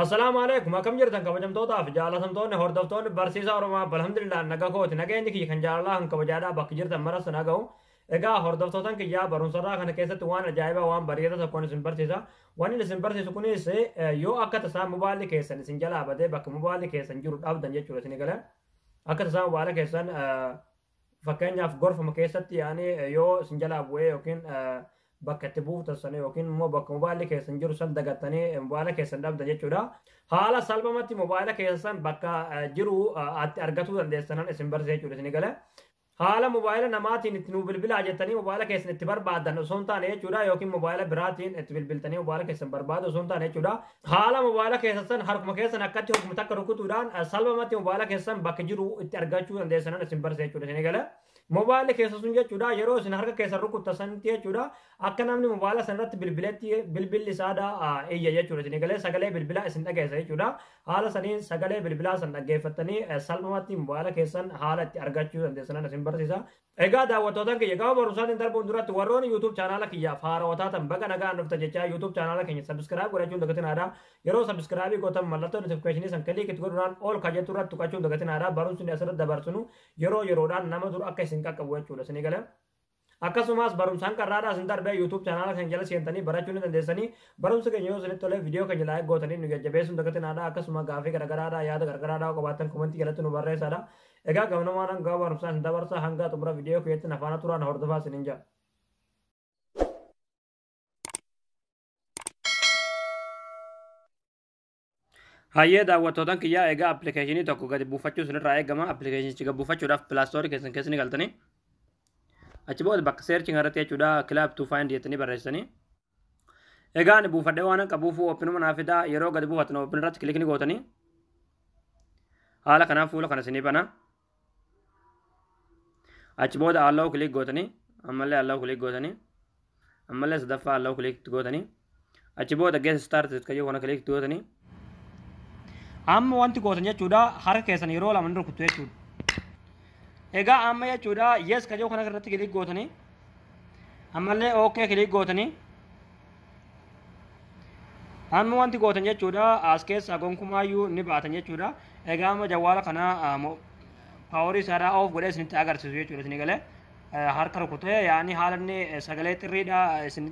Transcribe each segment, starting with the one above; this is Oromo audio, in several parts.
Assalaamu alaikum akkam jirtan kabajamtootaa fi jaalatamtoonni hordoftoonni barsiisaa Oromaa alhamdulillah naga kooti nageenyi kiyya kan jaalalaa kan kabajaadhaa bakki jirtan maras na ga'u egaa hordoftootan kiyyaa barumsarraa kana keessatti waan ajaa'ibaa waan bareedaa tokkoon isin barsiisa waan inni isin barsiisu kunis yoo akka tasaa mobaalli keessan isin jalaa badee bakka mobaalli keessan jiru dhabdan jechuudha isin egalan akka tasaa mobaala keessan Fakkeenyaaf gorfama keessatti yaani yoo isin jalaa bu'ee yookiin bakka itti buuftan sana yookiin immoo bakka mobaayilli keessan jiru san dagattanii mobaayila keessan dhabdan jechuudha. Haala salphamatti mobaayila keessan bakka jiru atti argatuu dandeessanan isin barsiisa jechuudha isin gale. Haala mobaayila namaatiin itti nuu bilbilaa jettanii mobaayila keessan itti barbaadan osoo hin taane jechuudha yookiin mobaayila biraatiin itti bilbiltanii mobaayila keessan barbaadu osoo hin taane jechuudha. Haala mobaayila keessassan harkuma keessan akkatti hogguma takka rukutuudhaan salphamatti mobaayila keessan bakka jiru itti argachuu dandeessanan isin barsiisa jechuudha isin eegala. Mobaayilli keessa sun jechuudha yeroo isin harka keessan rukutta sanitti jechuudha akka namni mobaayila san irratti bilbiletti bilbilli saada iyya jechuudha isin eegalee sagalee bilbilaa isin dhageessa jechuudha. Haala saniin sagalee bilbilaa san dhaggeeffattanii salphamatti mobaayila keessan haala itti argachuu dandeessanan isin barsiisa. Egaa daawwattootan kiyya gama barumsaatiin darbuun duratti warroonni YouTube chaanaala kiyyaaf haarawa taatan baga nagaan dhufta jechaa YouTube chaanaala keenya subscribe godhachuun dagatinaadha. Yeroo subscribe gootan mallattoo notification san click itti godhuudhaan all kan jettu irratti tuqachuun dagatinaadha. Barumsi nuti asirratti dabarsinu yeroo yeroodhaan nama dura akka isin qaqqabu jechuudha. Isin eegala. Akkasumas barumsaan qarraadhaa isin darbee YouTube chaanaala keenya jala seentanii barachuu ni dandeessanii barumsa keenya yoo isinitti tolee viidiyoo keenya laayik gootanii nu jajjabeessuun dagatinaadha akkasuma gaafii garagaraadhaa yaada garagaraadhaa qabaattan komentii jalatti nu barreessaadha Egaa gamnamaa dhangaa barumsaa isin dabarsaa hangaa xumura viidiyoo kiyyaatti na faana turaa na hordofaa isinin jedha. Hayyee daawwattootan kiyyaa egaa appilikeeshinii tokko gadi buufachuu isinirraa eegama appilikeeshinichi gadi buufachuudhaaf pilaastoorii keessan keessa ni galtanii achi booda bakka seerchi irratti jechuudha kilaab tuu faayindi jettanii barreessanii Egaa ani buufadhee waan qabuuf oopinuma naa fidaa yeroo gadi buufattan oopin irratti kilikni gootanii haala kanaan fuula kana isinii banaa. Achi booda allow kilik gootanii ammallee allow kilik gootanii ammallee sadaffaa allow kilik gootanii achi booda get started kayyoo kana kilik gootanii Amma wanti gootan jechuudha harka keessan yeroo lama ni rukuttu jechuudha. Egaa amma jechuudha yes kan jiru kana irratti kilik gootanii ammallee ok kilik gootanii amma wanti gootan jechuudha as keessaa gonkumaayyuu ni baatan jechuudha. Egaa amma jawwaala kana paaworii isaarraa oof godhee isinitti agarsiisu jechuudha isin galee harka rukutee yaa'anii haala inni sagalee xirriidha isin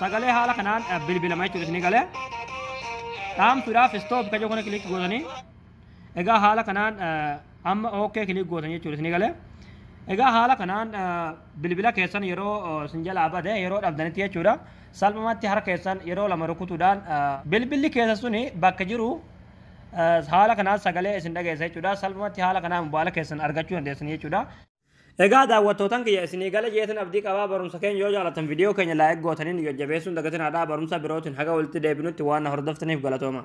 sagalee haala kanaan eh, bilbilama jechuudha isinii galee dhaamsuudhaaf stop kajoo kana kilik gootanii egaa haala kanaan eh, amma ok kilik gootanii jechuudha isinii galee egaa haala kanaan eh, bilbila keessan yeroo eh, isin jalaa bade yeroo dhabdanitti jechuudha salphumatti harka keessan yeroo lama rukutuudhaan eh, bilbilli keessa suni bakka jiru eh, haala kanaan sagalee isin dhageessa jechuudha salphumatti haala kanaan mobaayila keessan argachuu dandeessan jechuudha Egaa daawwattootan kiyya isinii gale jeetan abdii qabaa barumsa keenya yoo jaalatan video keenya like gootanii nu jajjabeessuun dagatinaa dhaa barumsa birootiin haga walitti deebinutti waan na hordoftaniif galatoomaa.